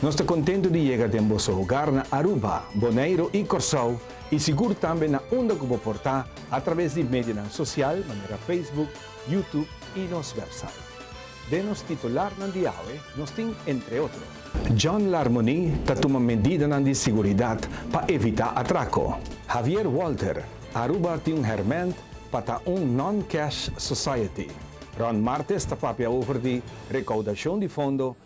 Nos ta contento di yega den boso hogar na Aruba, Boneiro y Corsou y sigur tambe na unda cu bo por ta a traves di medionan social manera Facebook, YouTube y nos website. Den nos titularnan di awe nos tin entre otro. John Larmonie ta tuma medidanan di siguridad pa evita atraco. Javier Walter, Aruba tin un herment pa ta un non-cash society. Ron martes ta papia over di recaudacion di fondo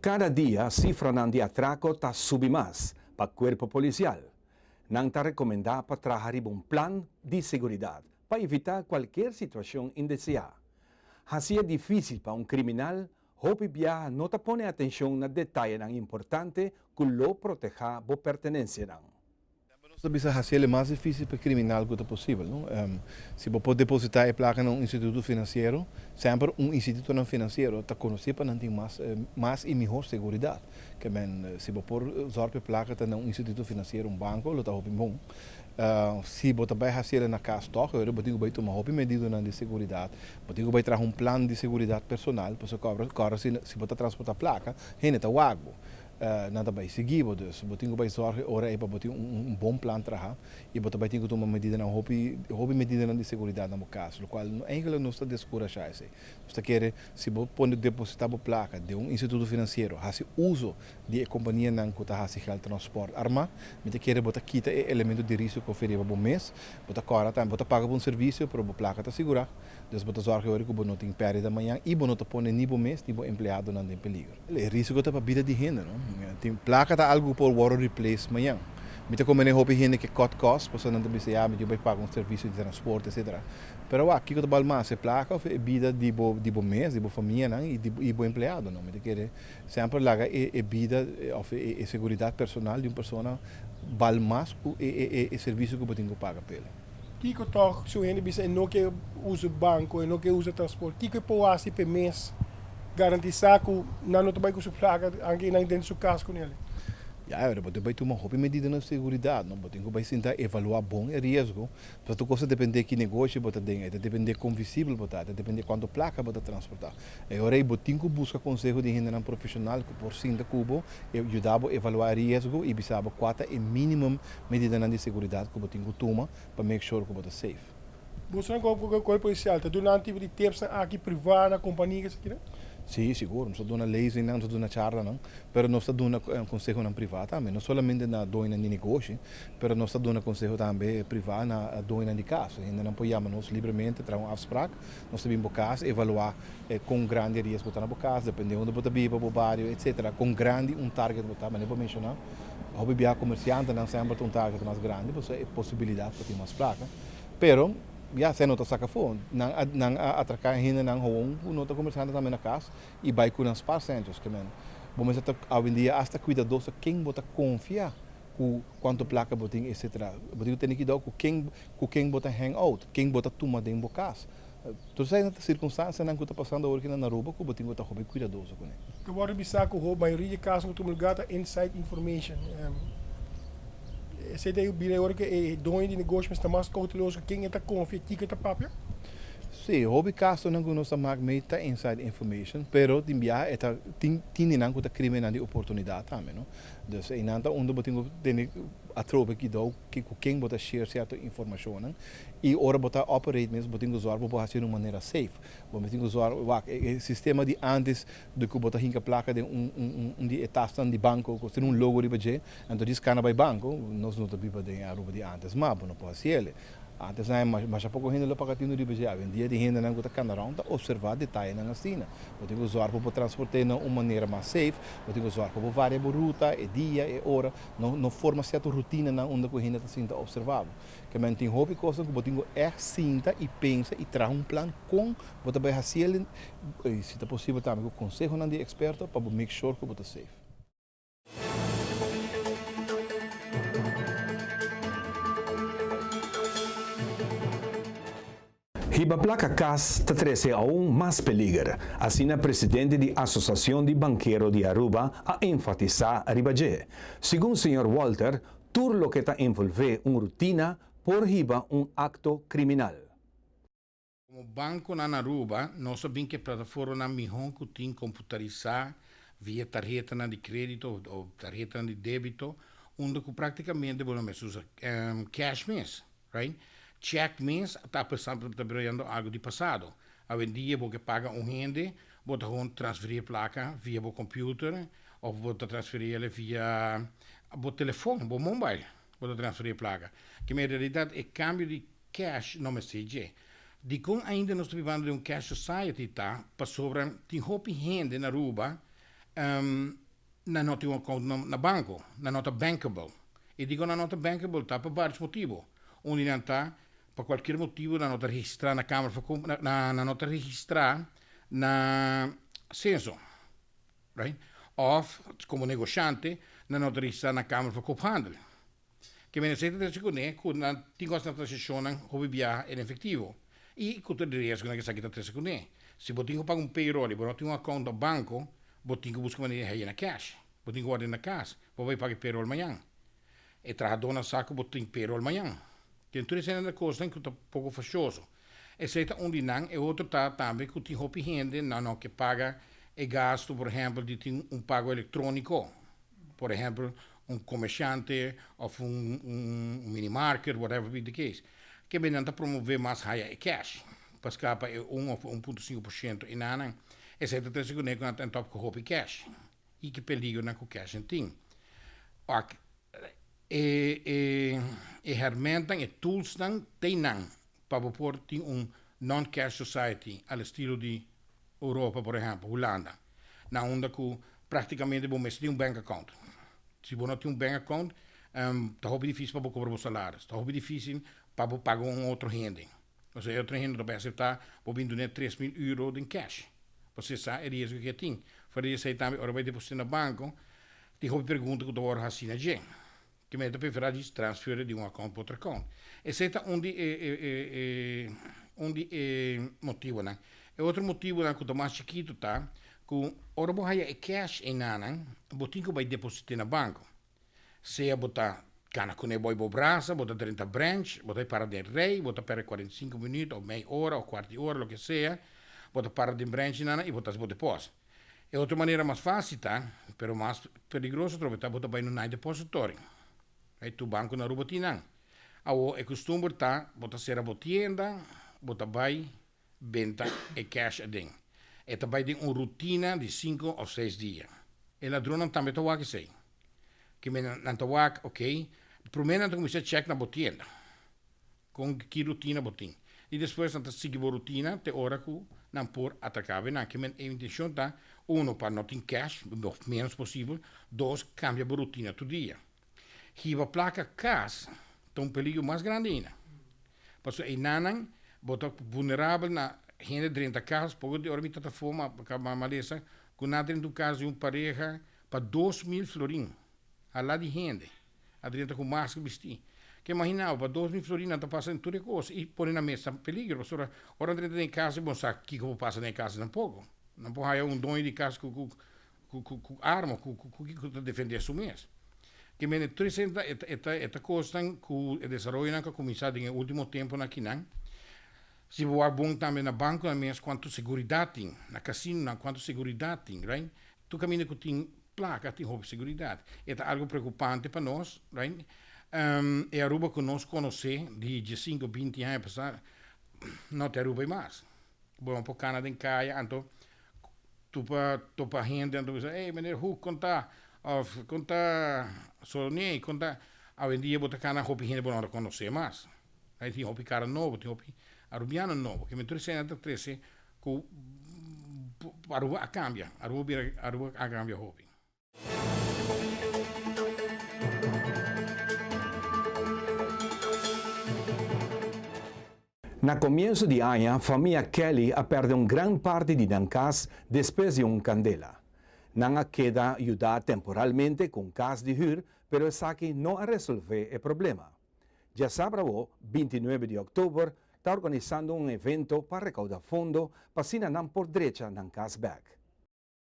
Cada dia cifranan di atraco ta subi mas pa cuerpo policial. Nan ta recomenda pa traha riba un plan di seguridad pa evita cualkier situacion indesea. Haci'e dificil pa un criminal, hopi bia no ta pone atencion na detayenan importante cu lo proteha bo pertenencianan. Nos ta bisa hasi el e mas difísil pa e kriminal ku ta posibel. Si bo por depositá e plaka na un instituto finansiero, semper un institutonan finansiero ta konosé pa nan tin mas i mihó seguridat. Ke men, si bo por zòrg pa e plaka ta na un instituto finansiero, un banko, lo ta hopi bon. Si bo ta bai hasi el na kas tòg, oe bo tin ku bai tuma hopi medidanan di seguridat. Bo tin ku bai traha un plan di seguridat personal, pasobra kòrda si bo ta transportá plaka, hende ta wak bo. Nan ta bai sigui bo, dus bo tin ku bai zòrg e ora ei pa bo tin un bon plan traha i bo ta bai tin ku tuma medidanan, hopi hopi medidanan di seguridat na bo kas, lokual eigelik nos ta deskurashá esei. Nos ta kere si bo pone depositá bo plaka den un instituto finansiero, hasi uso di e kompanianan ku ta hasi gèld transpòrt armá, mi ta kere bo ta kita e elemento di risiko oferiba bo mes, bo ta kòrda tambe bo ta paga pa un servisio pero bo plaka ta sigurá. Dus bo ta zòrg'e ora ku bo no tin pèrdida mañan i bo no ta pone ni bo mes ni bo empleadonan den peligro. E risiko ta pa bida di hende, no? Tin plaka ta algu ku por wòrdu replace mañan. Mi ta kombena e hopi hende ke kòt kòst, pasobra nan ta bisa, ya, mi yu bai paga un servisio di transport, etsetera. Pero awor, kiko ta bal mas, e plaka òf e bida di bo di bo mes, di bo famianan i di bo empleadonan? Mi ta kere semper laga e bida òf e seguridat personal di un persona bal mas ku e servisio ku bo tin ku paga pa el. Kiko tog si un hende bisa e no ke usa banko, e no ke usa transport, kiko e por hasi pa e mes garantisa ku nan no ta bai ku su plaka anke nan denter su kas ku nel? Ya, ahora bo tin ku bai tuma hopi medida na seguridat, no? Bo tin ku bai sinta evaluá bon e riesgo. Pasobra tur kos ta dependé ki negoshi bo ta den, e ta dependé kon visibel bo ta, e ta dependé kuantu plaka bo ta transportá. E ora ei bo tin ku buska konseho di hendenan profeshonal ku por sinta ku bo, yuda bo evaluá e riesgo i bisa bo kua ta e minimum medidanan di seguridat ku bo tin ku tuma pa make sure ku bo ta safe. Bosonan ku a goga kòl polisial ta duna un tipo di tipsnan aki privá na kompania esakinan? Sí, sigur. Nos ta duna leesingnan, nos ta duna charlanan, pero nos ta duna konsehonan privá tambe. No solamente na doñonan di negoshi, pero nos ta duna konseho tambe privá na doñonan di kas. Hendenan por yama nos libremente, traha un afsprak, Nos ta bin bo cas, evaluá con grandi riesgo ta na bo cas, depende unda bo ta biba, bo bario, etc. Con grandi un target bo ta, manera bo menciona, hopi bia comerciantenan semper ta un target mas grandi pasobra e posibilidad ta tin mas flaca. Pero ya sea no ta saca afo, nan a nan a atraca e hendenan gewoon cu no ta comerciante tambe na cas y bay cu nan sparcentros. Bo mester ta hoy en dia hasta cuidadoso ken bo ta confia cu cuanto placa bo tin etc. Bo tin cu tene cuidao cu ken cu ken bo ta hang out, ken bo ta tuma den bo cas. Todo esaki nan ta circunstancianan cu ta pasando awo nan Aruba cu bo tin cu ta hopi cuidadoso cu nan. Ta wordo bisa cu ho mayoria di caso cu ta mulga ta inside information. Esey ta bira e ora cu e doño di negoshi mes ta mas cauteloso cu ken e ta confia y kiko e ta papia. Si, hopi casonan cu nos ta mak mee ta inside information, pero tin biaha e ta tin tintinan cu ta crimennan di oportunidad tambe, no. Dus einan ta unda bo tin ku tene atrobe kidou ke ku ken bo ta share sierto informashonnan. I ora bo ta operate mes bo tin ku zòrg ku bo hasiu di un manera safe. Bo mi tin ku zòrg, wak, e e sistema di antes di ku bo ta hinka plaka den un un di e tasnan di banko ku tin un logo riba dje, anto dje skana bai banko, nos no ta biba den e Aruba di antes mas bo no por hasiel e. Antes nan e masha poko hende lo paga tint'e riba dje, awendia tin hendenan ku ta kanda rònt ta opservá detayenan asina. Bo tin ku zòrg pa bo transport'é na un manera mas seif, bo tin ku zòrg pa bo varia bo ruta, e dia, e ora, no no forma sierto rutinanan unda ku hende ta sinta opservá bo. Kemen tin hopi kosnan ku bo tin ku ègt sinta i pensa i traha un plan kon bo ta bai hasiel, i si ta posibel tambe ku konsehonan di eksperto pa bo make shor ku bo ta seif. Hiba plaka kas ta trece aun mas peliger, asina presidente di Asociacion di Bankero di Aruba a enfatisa riba dje. Segun señor Walter, tur loke ta envolve un rutina por hiba un acto criminal. Komo bankonan Aruba, nos a bin ku e plataformanan mihó ku tin komputarisá via tarhetanan di krédito o tarhetanan di débito unda ku praktikamente bo no mester usa kèsh mes, right? Chèk mes ta apesar ta birando algu di pasado. Awendia bo ke paga un hende, bo ta hon transferí e plaka via bo kòmpiuter òf bo ta transferí el via bo telefòn, bo mòmbail, bo ta transferí e plaka. Kima e realidat, e kambio di Cash no mester dje. Dikon ainda nos ta bibando den un cash society ta pasobra tin hopi hende na Aruba nan no tin un account na banco, nan no ta bankable. Y dikon nan no ta bankable ta pa varios motibo. Un di nan ta pa cualkier motibo nan no ta registra na kamer for kom nan no ta registra na censo right of komo negoshante nan no ta registra na kamer for kophandel. Ke mester ta trece kuné ku nan tin kos na transacionnan hopi biaha en efectivo y ku tur e riesgonan ke esaki ta trece kuné. Si bo tin ku paga un payroll y bo no tin un account na banco, bo tin ku buska manera di haye na cash. Bo tin ku wòrda na cas. Bo bai paga e payroll mañan. E trahadónan sa ku bo tin payroll mañan. Den tur esei nan ta kosnan ku ta poko facioso. Esei ta un di nan. E otro ta tambe ku tin hopi hende nan no ke paga e gasto, por ehempel, di tin un pago electronico. Por ehempel un comerciante of un mini market whatever be the case ke benan ta promove mas haya e cash pa scapa e un of e un punto sinku por ciento enanan esey ta trece cune cu nan top cu hopi cash y ki peligronan cu cashen tin oc e hermentan e tools nan tey nan pa bo por tin un non cash society al estilo di Europa por ehempel Hulanda na unda ku praktikamente bo mester tin un bank account. Si bo no tin un bank account ta hopi difísil pa bo kobra bo salaris, ta hopi difísil pa bo paga un otro hende. Pasobra e otro hende no ta bay aseptá bo bin dun'é tres mil euro den cash, pasobra e sa e riesgo ku e tin. Fuera di esei tambe ora bo bay deposit'é na banko tin hopi pregunta ku ta wòrdu hasi na dje. Tin mester pa e fera di transfere di un account pa otro account. Esey ta un di e un di e motibonan. E otro motibonan cu ta mas chikito ta cu ora bo haya e cash enanan bo tin cu bay deposite na banco. Sea bo ta cana cune bo y bo brasa, bo ta drenta branch, bo ta para den rey, bo ta perde cuarenta y cinco minuut of mey ora of cuart di ora loke sea, bo ta para den branch nan y bo ta haci bo deposit. E otro manera mas fácil ta, pero mas peligroso trobe ta bo ta bai na un night depository. Bai tur banco na Aruba tin nan. Awor e custumber ta bo ta cera bo tienda, bo ta bai benta e cash aden. E ta bai den un rutina di cinco of seis dia. E ladronnan tambe ta wak esei. Kimen nan ta wak, ok, prome nan ta cuminsá check na bo tienda. Con ki rutina bo tin? Y despues nan ta sigui bo rutina te ora cu nan por ataca awenan. Ki men e intencion ta, uno, pa no tin cash, lo menos posibel, dos, cambia bo rutina tur dia. Hiba placa cas ta un peligro mas grandi aina. Pasobra einanan bo ta vulnerabel na hende drenta cas. Poco di ora mi tata for ma bo caba malesa cu nan drenta un cas di un pareha pa dos mil florin. A la di hende. Adrian ta cu mas cu bisti. Ke mahinabo pa dos mi florinan ta pasa den tur e cos y pone na mes ta peligro pasobra ora nan ta den e casa y bo no sa kico por pasa den e casa tampoco. Nan por haya un doño di cas cu cu cu arma o cu cu kico ta defende su mes. Ke men e tres e ta e ta cosnan cu e desaroyonan cu a cuminsa den e ultimo temponan akinan. Si bo wak bon tambe na banconan mes cuanto seguridad tin, na casinonan cuanto seguridad tin right. Tur kaminda ku tin plaka tin hopi seguridat. E ta algu preokupante pa nos, right? E Aruba ku nos konosé di diesinku a binti aña pasá no ta e Aruba ei mas. Bo a por kana den kaya anto tur pa topa hende anto bisa, Ey, Meneer Hoek, kon ta? Òf, Kon ta Soloniei? Kon ta? Awendia bo ta kana hopi hende bo no ta konosé mas. Tin hopi kara nobo, tin hopi Arubiano nobo. Kemey tur esena ta trese ku Aruba a kambia, Aruba bira, Aruba a kambia hopi. Na komienso di aña famia Kelly a pèrdè un gran parti di nan kas despues di un kandela. Nan a keda yudá temporalmente ku un kas di hür, pero esaki no a resolvé e problema. Dja sabra bo, binti nuebe di òktober ta organisando un evento pa rekouda fondo pa asina nan por drecha nan kas bèk.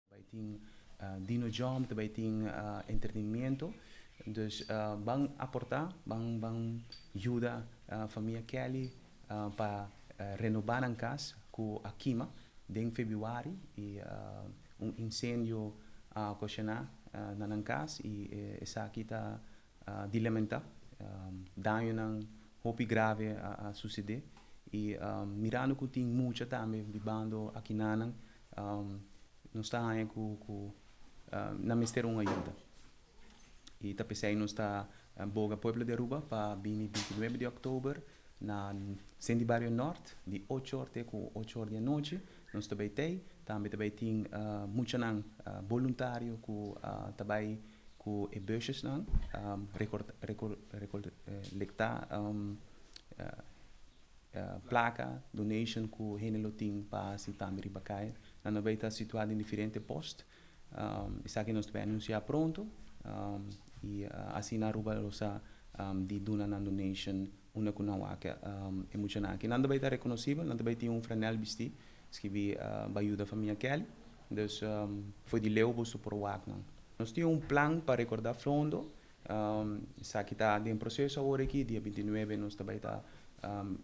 Ta bai tin dino jòm, ta bai tin entretenimentu. Dus ban aportá, ban ban yuda famia Kelly pa renobá nan kas ku a kima den febuari i un insendio a okashoná na nan kas i esaki ta di lamentá dañonan hopi grave a susedé i mirando ku tin mucha tambe di bando akinanan nos ta haña ku nan mester un ayuda i ta p'esei nos ta boga pueblo di Aruba pa bini bintinuebe di òktober Na Senti Bario Nort, di ocho or te ku ocho or di anochi, nos ta bai tei. Tambe ta bai tin muchanan boluntario ku ta bai ku e bushesnan rekolektá plaka, donation ku hende lo tin pa hasi tambe riba kai. Nan a bai ta situá den diferente post. Esaki nos ta bay anuncia pronto y asina Aruba lo sa di duna nan donation unda cu nan wak e muchanan aki. Nan ta bay ta reconocibel, nan ta bay tin un franel bisti skibi Bayuda Famia Kelly. Dus fo'i di leu boso por wak nan. Nos tin un plan pa recorda Flondo, esaki ta den proceso awor aki, dia binti nuebe nos ta bay ta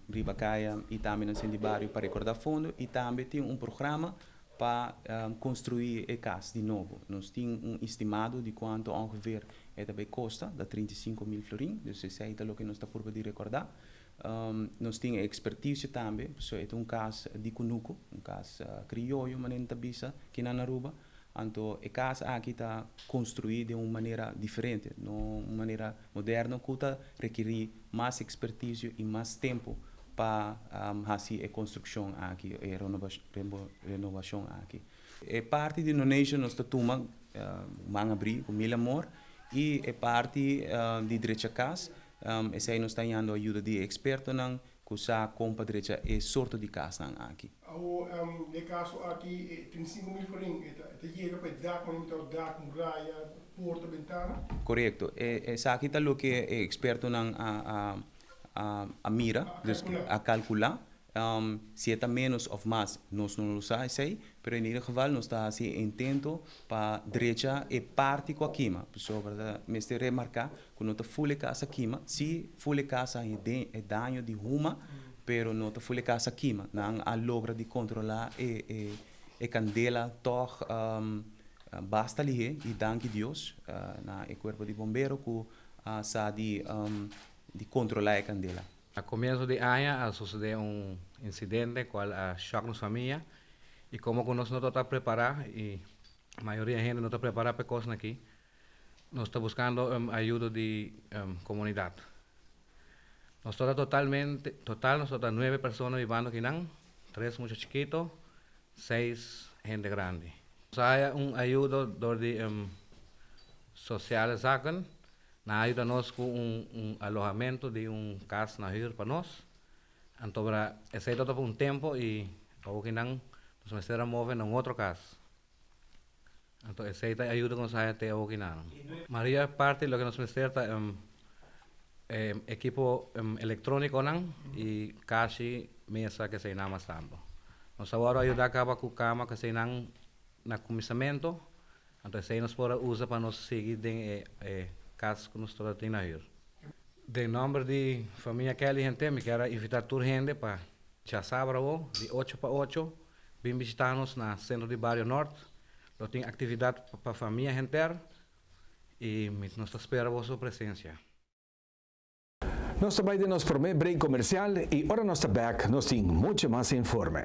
riba caya y tambe na Sindi Bario pa recorda Fondo y tambe tin un programa Pa construi e cas di nobo. Nos tin un estimado di cuanto ongeveer e ta bay costa, ta trinta i sinku mil florin, dus esey ta loke nos ta purba di recorda. Nos tin e expertice tambe, pasobra e ta un cas di cunuco, un cas crioyo manera nan ta bisa kinan na Aruba, anto e cas aki ta construi den un manera diferente, no un manera moderno cu ta requiri. mas expertisio y mas tempo pa haci e construccion aki, e renovacion aki. E parti di donation nos ta tuma man abri cu mil amor y e parti di drecha cas esai nos ta yando ayuda di e expertonan cu sa con pa drecha e sorto di casnan aki. Awo e kaso aki e ten sinku mil forin, e ta yega pa e dak, mane mitad di dak, muraya, porta, bentana. Korekto, esaki ta loke e ekspertonan a mira, dus a kalkulá, si e ta ménos òf mas nos no lo sa esei, pero en ieder geval nos ta hasi e intento pa drecha e parti ku a kima, pasobra ta mester remarká Cu no ta ful e casa kima. Si, ful e casa a hende e daño di huma, pero no ta ful e casa kima. Nan a logra di controla e e candela tog basta lihe y danki Dios na e cuerpo di bombero cu a sa di di controla e candela. Na comienzo di aña a sucede un incidente cual a shock nos famia y como cu nos no tabata prepara y mayoria hende no ta prepara pa e cosnan aki, Nos ta buskando ayudo di komunidat. Nos tabata totalmente, total nos tabata nuebe persona bibando kinan, tres mucha chikito, seis hende grandi. Nos a haya un ayudo dor di Sociale Zaken, nan a yuda nos ku un alohamentu di un kas na hür pa nos. Anto esei tabata pa un tempo i awo kinan nos mester a move na un otro kas. Anto esei ta e ayuda ku nos haña te awokinan. Maria parti loke nos mester ta e ekipo elektronikonan i kashi mesa ku eseinan mas tambe. Nos a wòrdu ayudá kaba ku kama ku eseinan na kuminsamentu, anto esei nos por a usa pa nos sigui den e kas ku nos tabata tin na hür. Den nòmber di famia Kelly Hentén mi kier a invitá tur hende pa djasabadrago di ocho pa ocho Bin bishita nos na Centro di Bario Nort, lo tin actividad pa famia henter y nos ta spera boso presencia. Nos ta bai den nos prome break comercial y ora nos ta back nos tin mucho mas informe.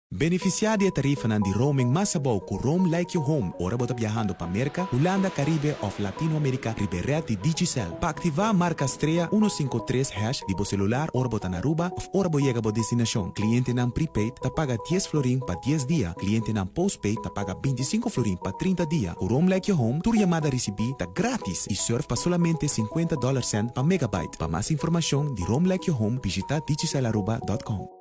Beneficiá di e tarifanan di roaming mas abou ku Roam Like Your Home ora bo ta biahando pa Merka, Hulanda, Karibe òf Latino Amerika riba e rèd di Digicel. Pa aktivá, marka strea uno sinku tres hash di bo selular ora bo ta na Aruba òf ora bo yega bo destinashon. Klientenan prepaid ta paga dies florin pa dies dia, klientenan postpaid ta paga binti sinku florin pa trinta dia. Ku Roam Like Your Home tur yamada risibí ta gratis i surf pa solamente sinkuenta dòler cent pa megabyte. Pa mas informashon di Roam Like Your Home bishitá digicelaruba dòt kòm.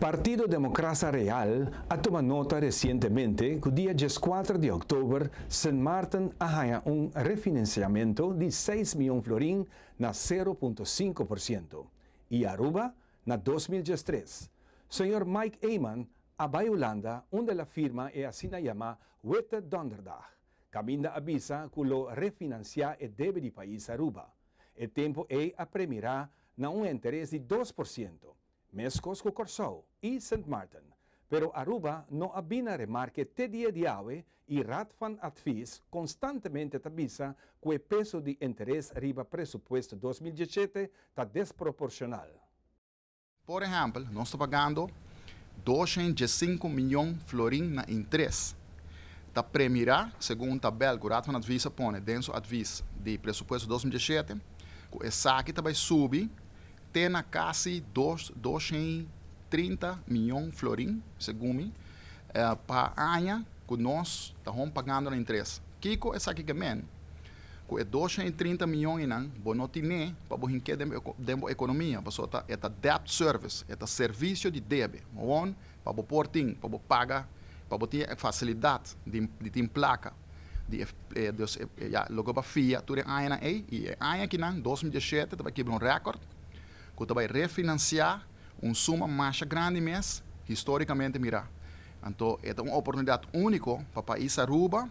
Partido Democrasa Real a tuma nota recientemente cu dia diescuater di october Sint Maarten a haña un refinanciamento di seis mion florin na sero punto sinku por ciento y Aruba na dos mil diestres. Señor Mike Eman a bay Hulanda unda el a firma e asina yama Witte Donderdag, caminda a bisa cu lo refinancia e debe di pais Aruba. E tempu ei a premirá na un enteres di dos por siento, meskos ku Kòrsou i Sint Maarten, pero Aruba no a bina remarke te dia di awe i Raad van Advies konstantemente ta bisa ku e peso di enteres riba presupuesto dos mil dieschete ta desproporshonal. Por ehèmpel, nos ta pagando dosha i djesinku mion florin na interes. Ta premirá, segun un tabèl ku Raad van Advies a pone den su Advies di Presupuesto dos mil diesshete, ku esaki ta bai subi te na kasi dos dosha i trinta mion florin, segun mi, pa aña ku nos ta hon pagando na interes. Kiko esaki ke men? Ku e dosha i trinta mion einan bo no tin n'e pa bo hink'é den bo ekonomia, pasobra ta e ta debt service, e ta servisio di debe, won pa bo por tin, pa bo paga, pa bo tin e fasilidat di di tin plaka di e dos e ya lo ke bo a fia tur e añanan ei i e aña akinan dos mi diashete ta bai kebra un rèkòrt ku ta bai refinansiá un suma masha grandi mes, historicamente mirá. Anto e ta un oportunidad único pa pais Aruba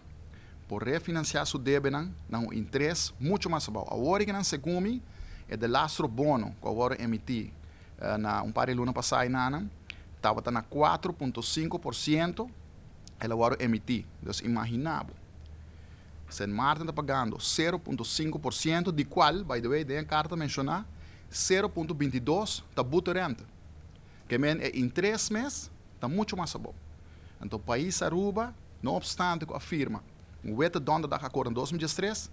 por refinanciá su debenan na un interes mucho mas bou. Awor i ke nan segun mi, e delastro bono ku a wòrdu emití na un par di luna pasá i nanan tabata na kuater punto sinku por siento, el a wòrdu emití. Dus imaginá bo, Sint Maarten ta pagando sero punto sinku por siento, di kual, by the way, den e karta ta menshoná Sero punto binti dos ta buto renta. Ke men e in tres mes ta mucho mas abo. Anto pais Aruba, no opstante ku a firma un wete dònde daka akor na dos mil diestres,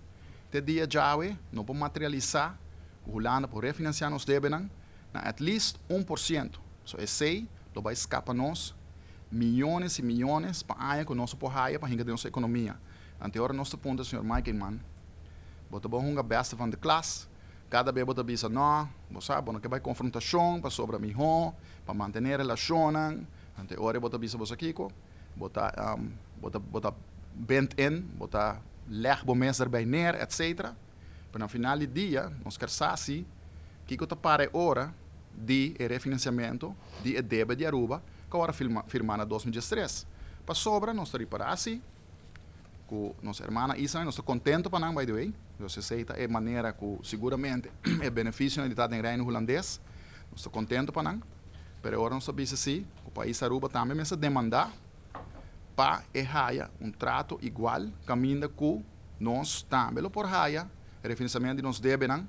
te dia djawe no por materialisa ku Hulanda por refinansia nos debenan na at least un por siento. So esei lo bai skapa nos miyones i miyones pa aña ku nos a por haya pa hinka den nos ekonomia. Anteor nos ta punta señor Meikenman, Bo ta bo hunga beste van de klas? Kada bes bo ta bisa, Nò, bo sa, bo no ke bai konfrontashon pasobra mihó pa mantené relashonnan. Anto e ora bo ta bisa bo sa kiko, bo ta bo ta bo ta bent in, bo ta lèg bo mes derbei ner, etsetera. Pero na final di dia nos ker sa si kiko ta para e ora di e refinansiamentu di e debe di Aruba ku a wòrdu firmá na dos mil diestres. Pasobra nos ta ripará si ku nos hermana Isa i nos ta kontentu pa nan by the way because esei ta e manera ku siguramente e benefisionan di ta den Reino Hulandes nos ta kontentu pa nan pero e ora nos ta bisa si ku pais Aruba tambe mester demanda pa e haya un trato igual kaminda ku nos tambe lo por haya refinansamentu di nos debenan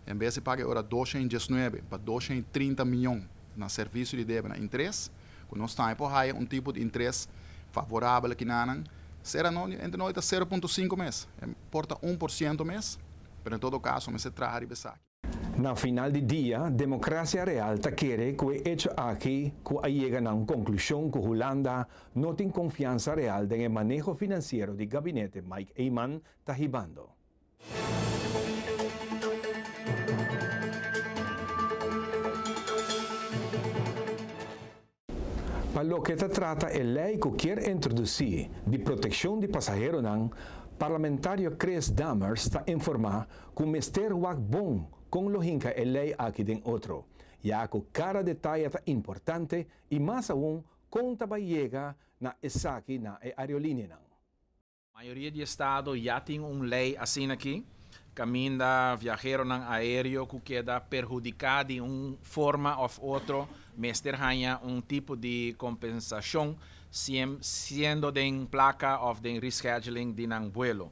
en bes di paga e ora dosha i diesnuebe pa dosha i trinta miyon na servisio di debenan interes. ku nos tambe por haya un tipo di interes favorabel aki na nan, sera no entre no e ta sero punto sinku mes, e por ta un por siento mes, pero en todo kaso mester traha riba esaki. Na final di dia, Democracia Real ta kere ku e echo aki ku a yega na un konklushon ku Hulanda no tin konfiansa real den e maneho finansiero di gabinete Mike Eman ta hibando. Pa loke ta trata e lei ku kier introdusí di protekshon di pasaheronan, Parlamentario Chris Dammers ta informá ku mester wak bon kon lo hinka e lei aki den otro, ya ku kada detaye ta importante i mas aun kon ta bai yega na esaki na e aerolineanan. Mayoria di estado ya tin un lei asina aki, caminda viaheronan aereo cu keda perhudica di un forma of otro mester hanja un tipo di compensacion, siem siendo den placa of den rescheduling di nan vuelo.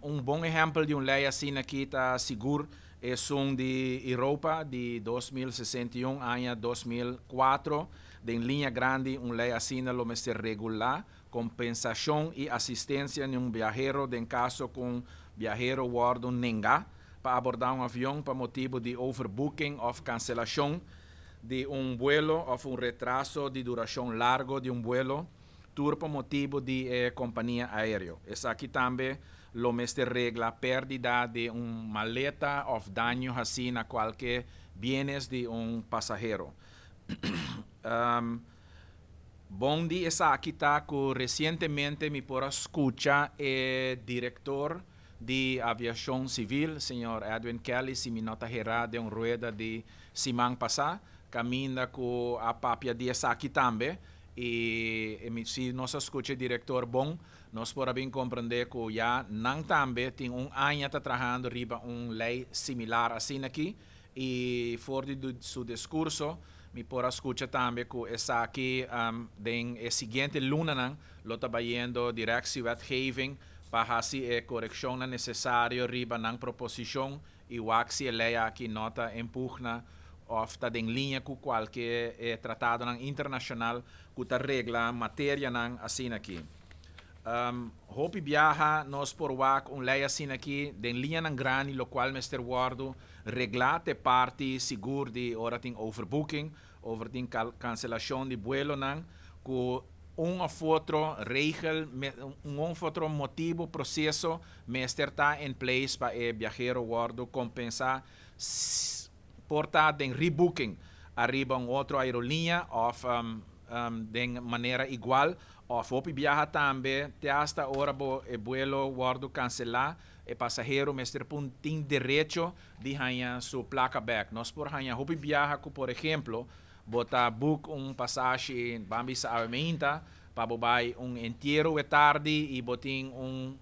Un bon ehempel di un lei asina aki ta sigur esun di Europa di dos mil sesenta i un aña dos mil kuater, den linea grandi un lei asina lo mester regula Kompensashon i asistensia di un biahero den kaso ku un biahero wòrdu nengá pa abordá un avion pa motibu di overbooking òf kanselashon di un buelo òf un retraso di durashon largo di un buelo tur pa motibu di e kompania aéreo. Esaki tambe lo mester regla pèrdida di un maleta òf daño hasí na kualke bienes di un pasahero. Bon di esaki ta cu recientemente mi por a scucha e director di Aviacion Civil, señor Edwin Kelly, si mi no ta hera den un rueda di siman pasa, caminda cu a papia di esaki tambe, y si nos a scucha e director bon, nos por a bin comprende cu ya nan tambe tin un aña ta trahando riba un ley similar asina aki. I for di su discurso mi por a scucha tambe cu esaki den e siguiente lunanan lo ta bayendo direct si wetgeving pa haci e coreccionnan necesario riba nan proposicion y wak si e ley aki no ta empugna of ta den linea cu cualke e tratadonan internacional cu ta regla materianan asina aki. Hopi biaha nos por wak un lei asin'akí den liñanan grandi lokual mester wòrdu reglá te parti sigur di ora tin overbooking òf ora tin kanselashon di buelonan ku un òf otro regel, un òf otro motibu, proseso mester ta en place pa e biahero wòrdu kompensá por ta den rebooking ariba un otro aeroliña òf den manera igual Òf hopi biaha tambe te asta ora bo e buelo wòrdu kanselá, e pasahero mester pun tin derecho di haña su plaka bèk. Nos por haña hopi biaha ku por ehemplo bo ta buk un pasashi ban bisa awe meinta pa bo bai un entiero we tardi i bo tin un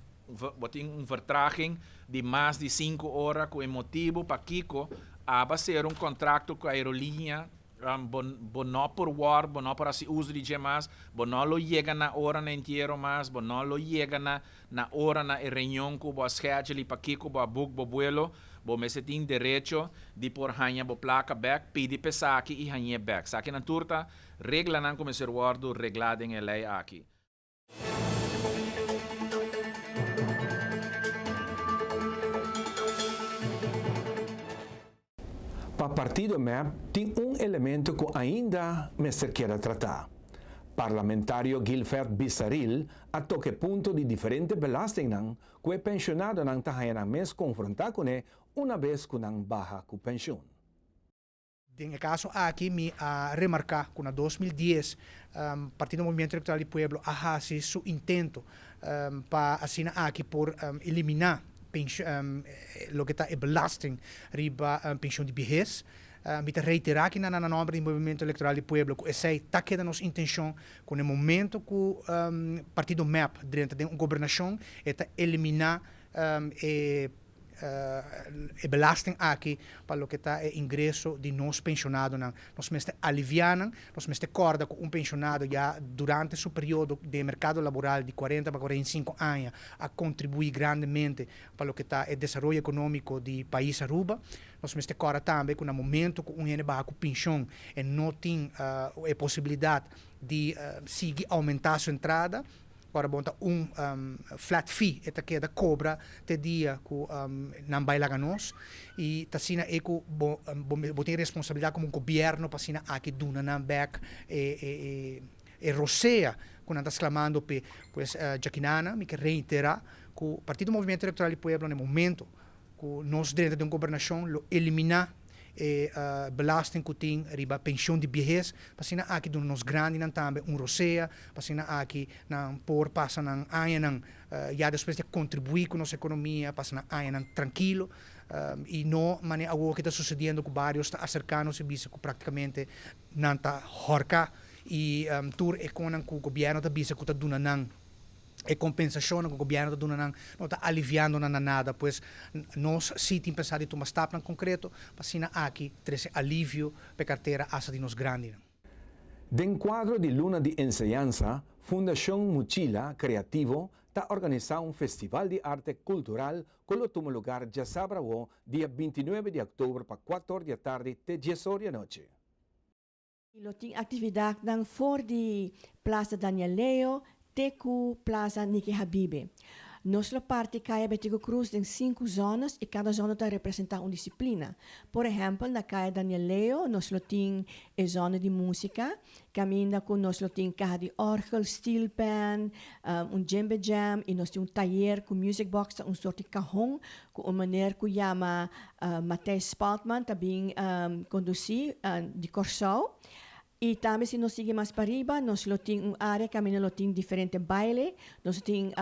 bo tin un vertraging di mas di sinku ora ku e motibu pakiko aba ser un kontrakto ku aerolinia Bo, bo no por wòrk, bo no por hasi uso di dje mas, bo no lo yega na ora na entiero mas, bo no lo yega na na ora na e reunion ku bo a schedule i pakiko bo a book bo buelo, bo mester tin derecho di por haña bo plaka bèk, pidi p'esaki i hañ'é bèk. Esakinan tur ta reglanan ku mester wòrdu reglá den e lei aki. Pa partido mep tin un elemento cu ainda mester keda trata. Parlamentario Gilvert Bissaril a toca e punto di diferente belastingnan cu e pensionadonan ta haña nan mes confronta cune una bes cu nan baha cu pensioen. Den e kaso aki mi a remarká ku na dos mil dies Partido Movimiento Electoral di Pueblo a hasi su intento pa asina aki por eliminá loke ta e belasting riba penshon di biahes. Mi ta reiterá kina nan na nòmber di Movimiento Electoral di Pueblo ku esei ta keda nos intenshon ku na e momento ku partido mep drenta den un gobernashon e ta eliminá e e belasting aki pa loke ta e ingreso di nos penshonadonan. Nos mester aliviá nan, nos mester kòrda ku un penshonado ya durante su periodo den e merkado laboral di kuarenta pa kuarenta i sinku aña a kontribuí grandemente pa loke ta e desaroyo ekonómiko di pais Aruba. Nos mester kòrda tambe ku na momentu ku un hende baha ku penshon e no tin e posibilidat di sigui oumentá su entrada, Ora bon ta un flat fee e ta keda kobra te dia ku nan bai laga nos i ta asina e ku bo bo tin responsabilidat komo gobièrnu pa asina aki duna nan bèk e e rosea ku nan ta sklamando p'e. Pues djakinana mi ke reiterá ku Partido Movimiento Electoral di Pueblo na e momento Ku nos drenta den gobernashon lo eliminá e belasting ku tin riba penshon di biehes, pa asina aki duna nos grandinan tambe un rosea, pa asina aki nan por pasa nan añanan ya despues di a kontribuí ku nos ekonomia, pasa nan añanan trankilo, i no manera awo ku ta susediendo ku barios ta aserká nos i bisa ku praktikamente nan ta hòrká i tur e konnan ku gobièrnu ta bisa ku ta duna nan. E kompensashonnan ku gobièrnu ta duna nan no ta aliviando nan na nada, pues nos sí tin pensá di tuma stapnan konkreto pa asina aki trese alivio pa e kartera asta di nos grandinan. Den kuadro di Luna di Enseñansa, Fundashon Muchila Kreativo ta organisá un festival di arte kultural ku lo tuma lugar djasabra awo dia binti nuebe di oktober pa kuator di atardi te dies or di anochi. y lo tin actividadnan for di Plaza Daniel Leo te cu Plaza Nicky Habibe. Nos lo parti Kaya Betico Cruz den sinku zonas y cada zona ta representa un disciplina. Por ehempel na Kaya Daniel Leo nos lo tin e zona di musica, caminda cu nos lo tin caha di orgel, steel pan, un djembe jam y nos tin un tayer cu music box ta un soort di cahon Cu un maner cu yama Matthijs Spaltman ta bin conduci di Corsou. Y tambe si nos sigui mas pariba nos lo tin un area cami nan lo tin diferente baile. Nos lo tin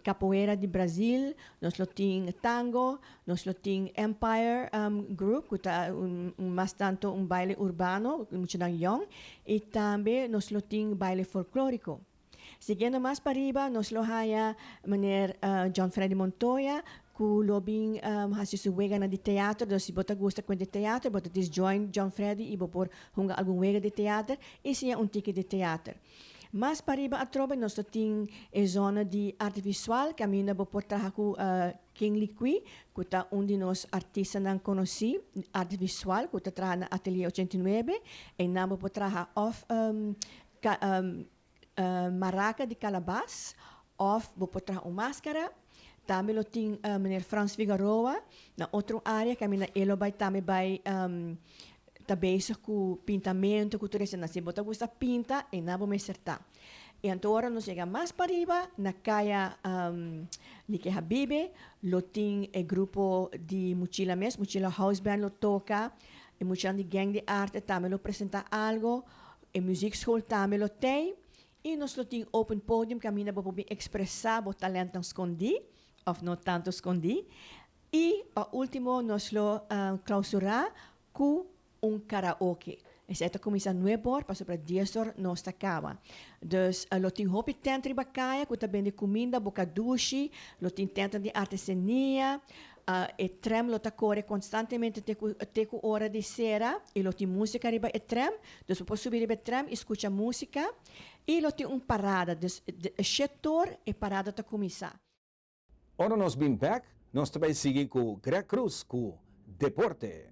Capoeira di Brazil, nos lo tin Tango, nos lo tin Empire Group cu ta un mas tanto un baile urbano, muchanan yong. Y tambe nos lo tin baile folklorico. Siguiendo mas pariba nos lo haya meneer John Freddy Montoya cu lo bin haci su wega na di teater, dus si bo ta gusta cuenta di teater bo ta dis join John Freddy y bo por hunga algun wega di teater y siña un tiki di teater. Mas pariba atrobe nos lo tin e zona di arte visual caminda bo por traha cu King Liqui cu ta un di nos artistanan conoci arte visual cu ta traha na Atelier ochenta i nuebe, einan bo por traha of Maraca di calabas of bo por traha un mascara. Tambe lo tin Meneer Frans Figaroa na otro area ke a mina e lo bai tambe bai ta bezig cu pintamento cu tur esnan. Si bo ta gusta pinta ena bo mester ta. Y anto ora nos yega mas pariba na caya Nike Habibe lo tin e grupo di Muchila mes, Muchila House Band lo toca y muchanan di Gang de Arte tambe lo presenta algo. E muziekskool tambe lo tei i nos lo tin open podium kaminda bo por bin ekspresá bo talèntnan skondí òf no tantu skondí. I pa último nos lo klausurá ku un karaoke. Esei ta kuminsá nueb òr pasobra dies òr nos ta kaba. Dus lo tin hopi tènt riba kaya ku ta bende kuminda, bokadushi, lo tin tèntnan di artesenia, E trèm lo ta kore konstantemente te ku te ku ora di sera i lo tin músika riba e trèm. Dus bo por subi riba e trèm i skucha músika. I lo tin un parada, dus e shit toer e parada ta kuminsá. Ora nos bin bèk, nos ta bai sigui ku Greg Cruz ku Deporte.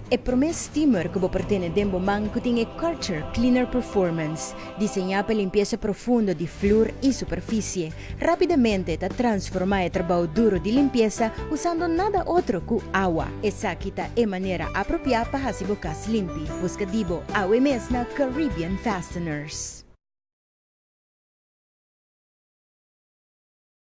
E promé steamer ku bo por tene den bo man ku tin e Karcher Cleaner Performance, diseñá pa limpiesa profundo di flur i superfisie, rápidamente ta transformá e trabou duro di limpiesa usando nada otro ku awa. Esaki ta e manera apropiá pa hasi bo kas limpi. Buska di bo awe mes na Caribbean Fasteners.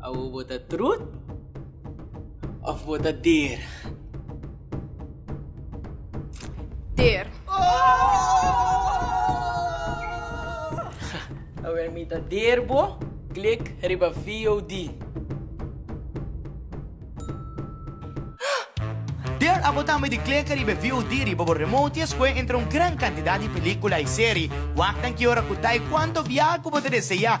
Awo bo ta trut of bo ta dera? Ter. Awer mi ta der bo, klik riba VOD. Der abo tambe di klika riba VOD riba bo remote i escoge entre un gran cantidad di pelicula i serie. Wak nan ki ora cu ta e cuanto biaha cu bo ta desea.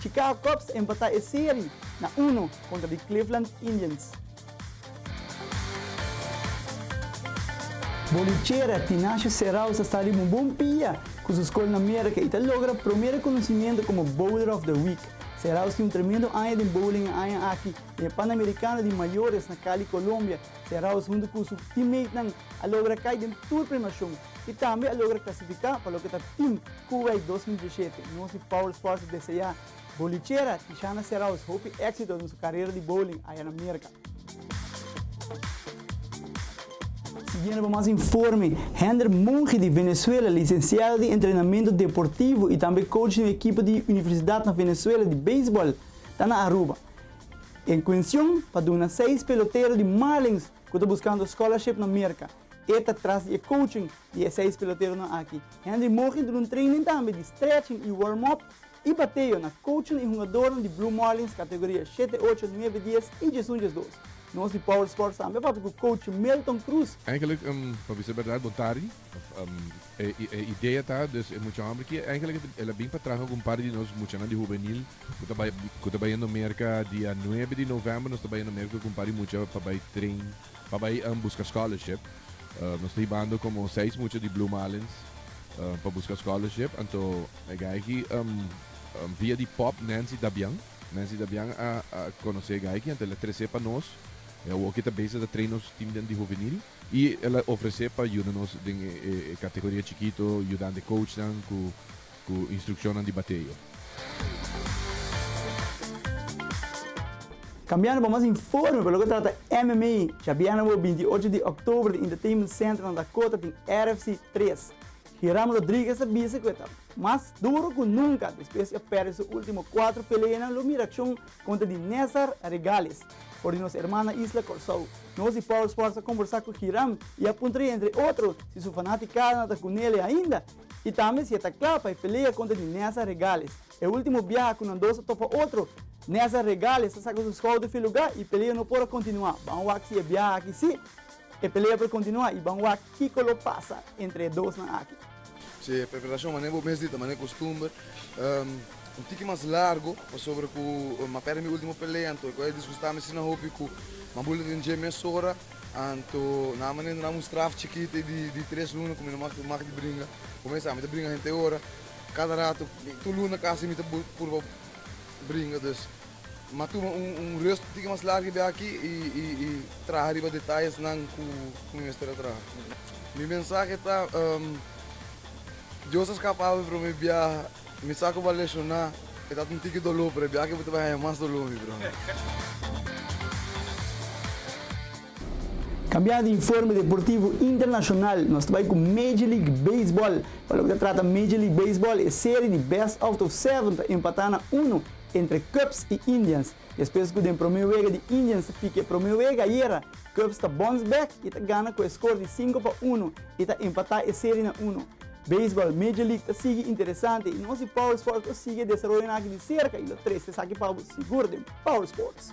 Chicago Cubs empatá e seri na uno kontra di Cleveland Indians. Bolichera Tinasio Serau sa sta riba un bon pia ku su skol na Merka i ta logra promé rekonosimiento komo Bowler of the Week. Serau tin un tremendo aña den bowling e aña aki. Den e Panamerikano di Mayores na Kali, Kolombia, Serau huntu ku su teammatenan a logra kai den tur premiashon. i tambe a logra klasifiká pa loke ta Team Kuwait dos mil diesshete. Nos di Power Sports ta deseá bolichera Tishana Serraus hopi éksito den su karera di bowling aya na Merka. Siguiendo pa mas informe, Hender Monge di Venezuela, lisensiado di entrenamentu deportivo i tambe coach di un ekipo di universidat na Venezuela di beisbòl, ta na Aruba. E kuencion pa duna seis pelotero di Marlins ku ta buskando scholarship na Merka. E ta tras di e coaching di e seis peloteronan aki. Henry Morgen duna un training tambe di stretching i warm up i bateo na coachnan i hungadornan di Blue Marlins kategoria shete ocho, nuebe dies i djes un, djes dos. Nos di Power Sports tambe a papia ku coach Milton Cruz. Eigenlijk, pa bisa berdad bo tardi. E idea ta dus e mucha hòmber aki eigenlijk el a bin pa traha ku un par di nos muchanan di hubenil ku ta bai ku ta bai yendo Merka dia nuebe di novèmber. Nos ta bai yendo Merka ku un par di mucha pa bai train. pa bai buska scholarship. Nos ta hibando como seis mucha di Blue Marlins pa buska scholarship. Anto e gayki via di pop Nancy Dabian. Nancy Dabian a conoce e gayki anto el a trece pa nos. E awoki ta beza ta train nos team den di hovenil y el a ofrece pa yuda nos den e categoria chikito yudando e coachnan cu. Ku instrukshonnan di bateo. Kambiando pa mas informe pa loke trata MMA, djabièrnè bo binti i ocho di òktober di Entertainment Center na Dakota tin RFC tres. Hiram Rodriguez ta bisa ku e ta mas duro ku nunka despues i a pèrdè su último kuater peleanan lo mira akshon kontra di Nezar Regales for di nos erman na isla Kòrsou. Nos di Power Sports a komborsá ku Hiram i a puntraé entre otro si su fanatikanan ta ku nele ainda. I tambe si e ta kla pa e pelea kontra di Nessa Regales. E último biaha ku nan dos a topa otro, Nessa Regales a saka su skouder fi lugá i pelea no por a kontinuá. Ban wak si e biaha aki sí e pelea por kontinuá i ban wak kiko lo pasa entre e dosnan aki. Si e preparashon manera bo mes di ta manera kustumber, un tiki mas largu pasobra ku m'a pèrdè mi último pelea anto e kos a disgustá mi asina hopi ku m'a bula den dje mesora. Anto nan a manera nan un straf chikiti di tres luna ku mi no mak di bringa. Kumesa ami ta bringa henter ora, kada ratu, tur luna kasi mi ta purba bringa. Dus mi a tuma un rest un tiki mas largu di aki i traha riba detayesnan ku mi mester a traha. Mi mensahe ta, Dios a skapami promé biaha. Mi sa ku bo a lesioná. E ta tin tiki doló, pero e biaha aki bo ta bai haña mas doló, mi bròder. Cambiando di informe deportivo internacional, nos ta bai cu Major League Baseball. Pa loke ta trata Major League Baseball, e serie di best-of-seven ta empata na uno entre Cubs y Indians. Despues ku den promé wega di Indians ta pika e promé wega ayera, Cubs ta bounce back i ta gana ku e skor di sinku pa unu i ta empatá e seri na unu. Beisbòl Major League ta sigui interesante i nos di Power Sports lo sigui e desaroyonan aki di serka i lo trese esaki pa bo sigur den Power Sports.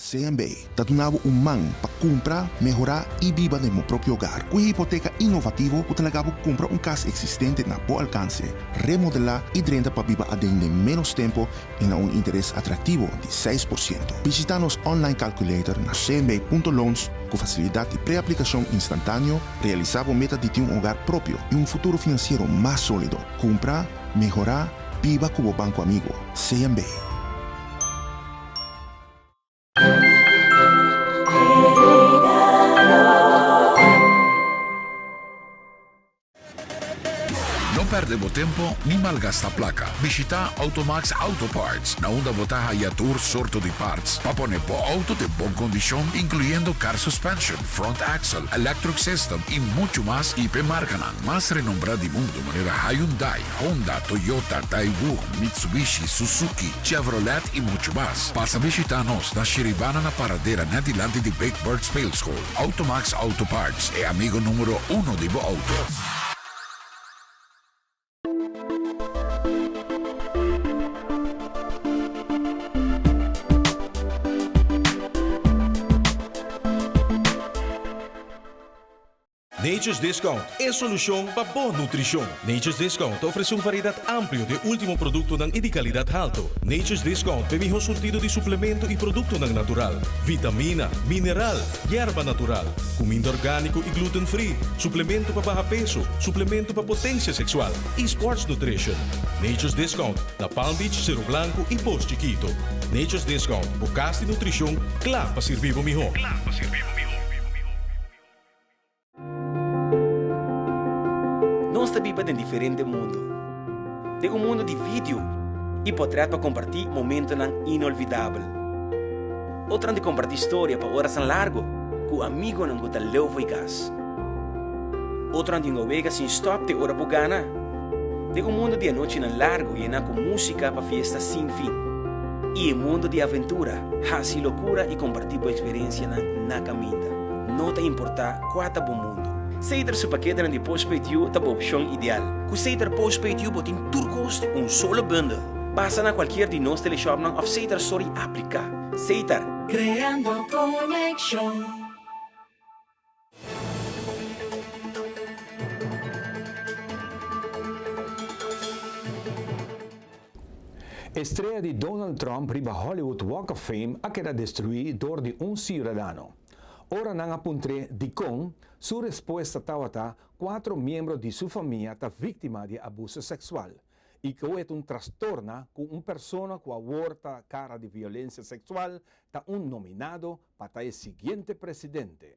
CMB ta duna bo un man pa kumpra, mehorá i biba den bo propio ogar ku e hipoteka innovativo ku ta laga bo kumpra un kas eksistente na bo alkanse, remodelá i drenta pa biba aden den ménos tempo i na un interes atraktivo di seis por siento. Bishitá nos online calculator na cmb punto loans ku fasilidat di preaplikashon instantáneo, realisá bo meta di tin un ogar propio i un futuro finansiero mas sólido. Kumpra, mehorá, biba ku bo banko amigo. CMB. No perde bo tempo ni malgasta plaka. Bishita Automax Auto Parts, na unda bo ta haya tur sorto di parts pa pone bo auto den bon kondishon, inkluyendo car suspension, front axle, electric system i muchu mas, i p'e markanan mas renombrá di mundu manera Hyundai. Honda, Toyota, Daewoo, Mitsubishi, Suzuki, Chevrolet y mucho mas. Pasa bishita nos na Shiribana na paradera net dilanti di Big Bird Speelschool. Automax Auto Parts, e amigo numero uno di bo auto. Nature's Discount, e solucion pa bo nutricion. Nature's Discount ta ofrece un variedad amplio di e ultimo productonan y di calidad halto. Nature's Discount pa e miho surtido di suplemento y productonan natural, vitamina, mineral, yerba natural, cuminda organico y gluten free, suplemento pa baha peso, suplemento pa potencia sexual y sports nutrition. Nature's Discount na Palm Beach, Cerro Blanco y Post Chiquito. Nature's Discount, bo cas di nutricion cla pa sirbi bo miho. Nos ta biba den diferente mundu. Den un mundu di video i potret pa kompartí momentonan inolvidabel. Otronan di kompartí storia pa orasan largu ku amigonan ku ta leu fo'i kas. Otronan di nawega sin stòp te ora bo gana. Den un mundu di anochinan largu yená ku músika pa fiesta sin fin. I e mundu di aventura, hasi lokura i kompartí bo eksperensianan na kaminda. No ta importá kua ta bo mundu, Seitar su paketenan di postpaid yu ta bo opshon ideal. Ku Seitar postpaid yu bo tin tur kos di un solo bundel. Pasa na kualkier di nos teleshopnan òf Seitar stor i apliká Seitar. Creando conexión. E strea di Donald Trump riba Hollywood Walk of Fame a keda destruí dor di un siudadano. Ora nan a puntr'é dikon su respuesta tabata kuatro miembro di su famia ta víktima di abuso seksual i ku e ta un trastorna ku un persona ku awor ta kara di violensia seksual ta un nominado pa ta e siguiente presidente.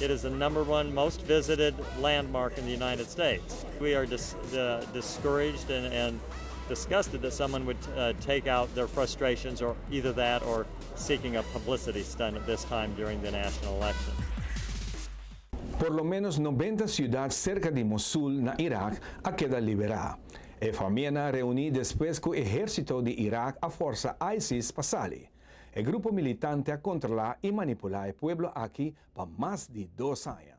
It is the number one most visited landmark in the United States. We are discouraged and disgusted that someone would take out their frustrations or either that or seeking a publicity stunt at this time during the national election. Por lo ménos nobenta siudat serka di Mosul na Irak a keda liberá. E famia nan a reuní despues ku ehérsito di Irak a forsa ISIS pa sali. E grupo militante a controla y manipula e pueblo aki pa mas di dos aña.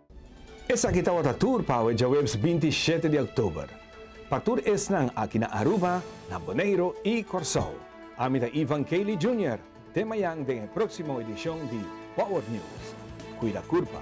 Esaki tabata tur pa awe djaweps binti i shete di oktober. Pa tur esnan aki na Aruba, na Boneiro i Kòrsou. Ami ta Ivan Cayley Junior, te mayan den e próksimo edishon di Power News. Kuida kurpa.